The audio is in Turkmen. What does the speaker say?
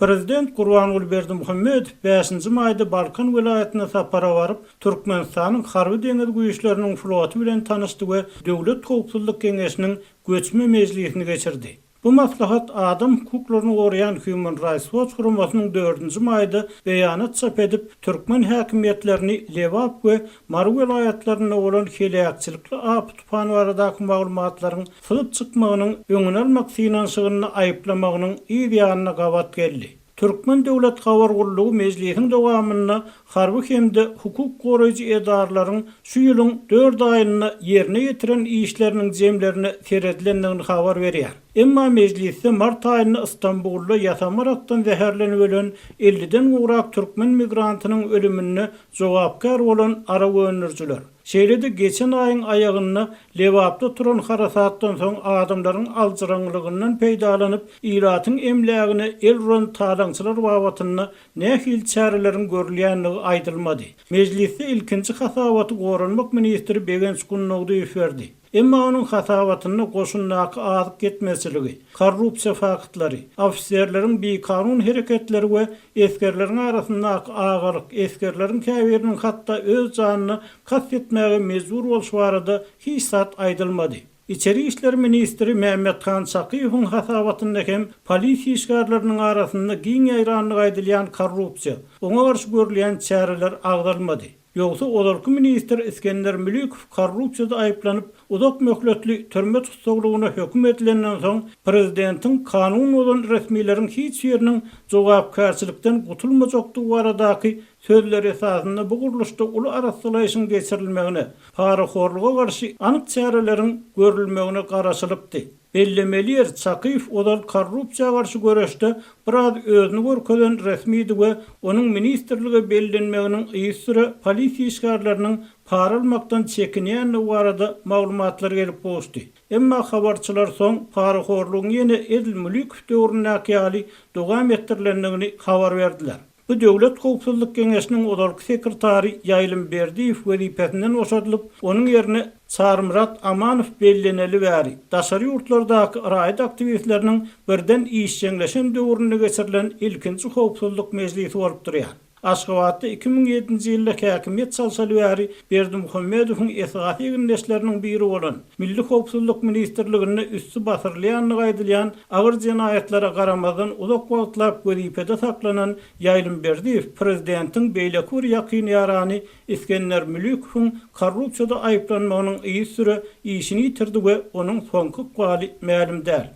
Prezident Gurbanguly Berdimuhamedow bäşinji maýda Balkan welaýatyna sapara baryp, Türkmenistanyň Harby-deňiz güýçleriniň floty bilen tanyşdy we Döwlet howpsuzlyk geňeşiniň göçme mejlisini geçirdi. Bu maslahat adam hukuklaryny goraýan Human Rights Watch guramasynyň dördünji maýda beýanat çap edip, türkmen häkimiýetlerini Lebap we Mary welaýatlarynda bolan heläkçilikli apy-tupan baradaky maglumatlaryň syzyp çykmagynyň öňüni almak synanyşygynda aýyplamagynyň yz ýanyna gabat geldi. Türkmen döwlet habar gullugy mejlisiň dowamynda harby hem-de hukuk goraýjy edaralaryň şu ýylyň dört aýynda ýerine ýetiren işleriniň jemlerine seredilendigini habar berýär. Emma mejlisde mart aýynda Istanbulda ýasama rakdan zäherlenip ölen elliden gowrak türkmen migrantynyň ölüminde jogapkär bolan arak öndürijiler, şeýle-de geçen aýyň aýagynda Lebapda turan harasatdan soň adamlaryň aljyraňlygyndan peýdalanyp, ilatyň emlägine el uran talaňçylar babatynda nähili çäreleriň görülýändigi aýdylmady. Mejlisde ilkinji hasabaty Goranmak ministri Begenç Gunnogdyýew berdi. Emma onuň hasabatynda goşundaky azyk ýetmezçiligi, korrupsiýa faktlary, ofiserleriň bikanun hereketleri we esgerleriň arasyndaky agalyk, esgerleriň käbiriniň hatda öz janyna kast etmäge mejbur bolşy barada hiç zat aýdylmady. Içeri işler ministri Mämmethan Çakyýewiň hasabatynda hem polisiýa işgärleriniň arasynda giň ýaýrandygy aýdylýan korrupsiýa, oňa garşy görülýän çäreler agzalmady. Ýogsa ozalky ministr Isgender Mülikow korrupsiýada aýyplanyp, uzak möhletli türme tussaglygyna höküm edilenden soň, prezidentiň kanun bozan resmileriň hiç biriniň jogapkärçilikden gutulmajakdygy baradaky sözleri esasynda bu gurluşda uly arassalaýyşyň geçirilmegine, parahorluga garşy anyk çäreleriň görülmegine garaşylypdy. Bellemeli ýer, Çakyýew ozal korrupsiýa garşy göreşde biraz özüni görkezen resmidi we onuň ministrlige bellenmeginiň yzsüre polisiýa işgärleriniň para almakdan çekinýändigi barada maglumatlar gelip gowuşdy. Emma habarçylar soň parahorlugyň ýene edil Mulikow döwründäki ýaly dowam etdirilendigini habar berdiler. Bu Döwlet howpsuzlyk geňeşiniň ozalky sekretary Ýaýlym Berdiýew wezipesinden boşadylyp, onuň ýerine Çarymyrat Amanow belleneli bäri, daşary ýurtlardaky raýat aktiwistleriniň birden işjeňleşen döwründe geçirilen ilkinji howpsuzlyk mejlisi bolup durýar. Aşgabatda iki müň ýedinji ýylda häkimiýet çalşaly bäri Berdimuhamedowyň esasy egindeşleriniň biri bolan, Milli howpsuzlyk ministrliginde üsti basyrylýandygy aýdylýan agyr jenaýatlara garamazdan uzak wagtlap wezipede saklanan Ýaýlym Berdiýew prezidentiň beýleki bir ýakyn ýarany Isgender Mülükowyň korrupsiýada aýyplanmagynyň yzysüre işini ýitirdi we onuň soňky ykbaly mälim däl.